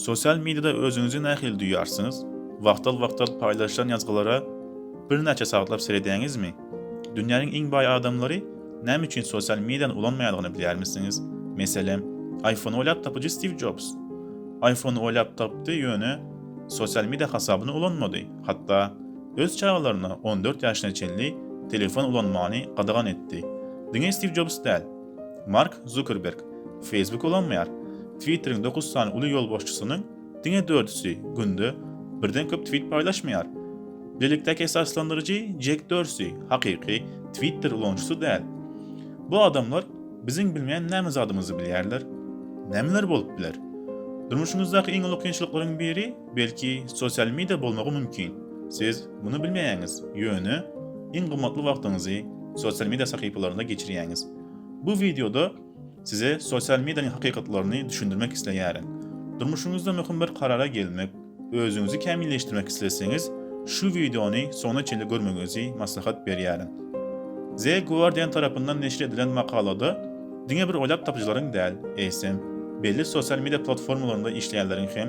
Sosial mediada özüňizi nähili duýýarsyňyz? Wagtal-wagtal paýlaşylan ýazgylara birnäçe sagatlap seredýäňizmi? Dünýäniň iň baý adamlary näme üçin sosial mediany ulanmaýandygyny bilýärmisiňiz? Meselem, iPhone oýlap tapyjy Stiw Jobs. Iphone-y oýlap tapdy, ýöne sosial media hasabyny ulanmady, hatda öz çagalaryna on dört ýaşyna çenli telefon ulanmany gadagan etdi. Diňe Stiw Jobs däl. Mark Zukerberg Facebook ulanmaýar. Twitteriň dokuz sany uly ýolbaşçysynyň diňe dördüsi günde birden köp twit paýlaşmaýar. Bilelikdäki esaslandyryjy Jek Dorsi hakyky Twitter ulanyjysy däl. Bu adamlar biziň bilmeýän näme zadymyzy bilýärler? Nämeler bolup biler? Durmuşymyzdaky iň uly kynçylyklaryň biri Belki sosial media bolmagy mümkin. Siz muny bilmeýäňiz, ýöne iň gymmatly wagtyňyzy sosial media sahypalarynda geçirýäňiz. Bu wideoda size sosial medianyň hakykatlaryny düşündirmek isleýärin. Durmuşyňyzda möhüm bir karara gelmek, özüňizi kämilleşdirmek isleseňiz, şu wideony soňuna çenli görmegiňizi maslahat berýärin. The Guardian tarapyndan neşir edilen makalada diňe bir oýlap tapyjylaryň däl, eýsem, belli sosial media platformalarynda işleýänleriň hem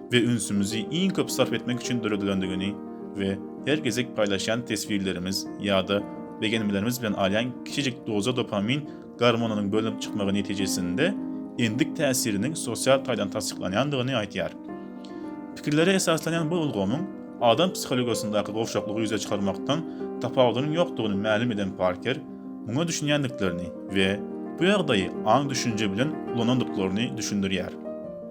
we ünsümizi iň köp sarp etmek üçin döredilendigini we her gezek paýlaşýan teswirlerimiz ýa-da begenmelerimiz bilen alýan kiçijik doza dopamin gormonynyň bölünip çykmagy netijesinde endik täsiriniň sosial taýdan tassyklanýandygyny aýdýar. Pikirlere esaslanýan bu ulgamyň adam psihologiýasyndaky gowşaklygy ýüze çykarmakdan tapawudynyň ýokdugyny mälim eden Parker, muňa düşünýändiklerini we bu ýagdaýy aň-düşünje bilen ulanandyklaryny düşündirýär.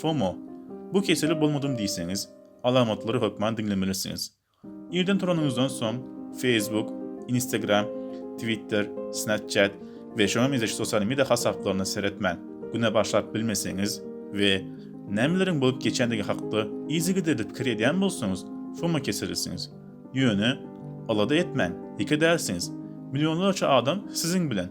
FOMO, bu keseli bolmadym diýseňiz, alamatlary hökman diňlemelisiňiz. Irden turanyňyzdan soň, Facebook, Instagram, Twitter, Snapchat we şoňa meňzeş sosial media hasaplaryna seretmän, güne başlap bilmeseňiz we nämeleriň bolup geçýändigi hakda yzygiderli pikir edýän bolsaňyz, FOMO keselisiňiz. Ýöne, alada etmäň, ýeke dälsiňiz. Millionlarça adam siziň bilen.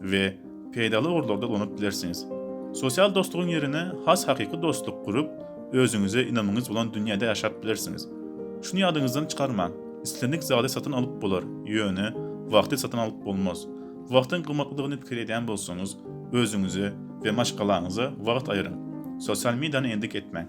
we peýdaly ugurlarda ulanyp bilersiňiz. Sosial dostlugyň ýerine has hakyky dostluk gurup, özüňize ynamyňyz bolan dünýäde ýaşap bilersiňiz. Şuny ýadyňyzdan çykarmaň, islendik zady satyn alyp bolar, ýöne wagty satyn alyp bolmaz. Wagtyň gymmatlydygyny pikir edýän bolsaňyz, özüňize we maşgalaňyza wagt aýryň. Sosial mediany endik etmäň.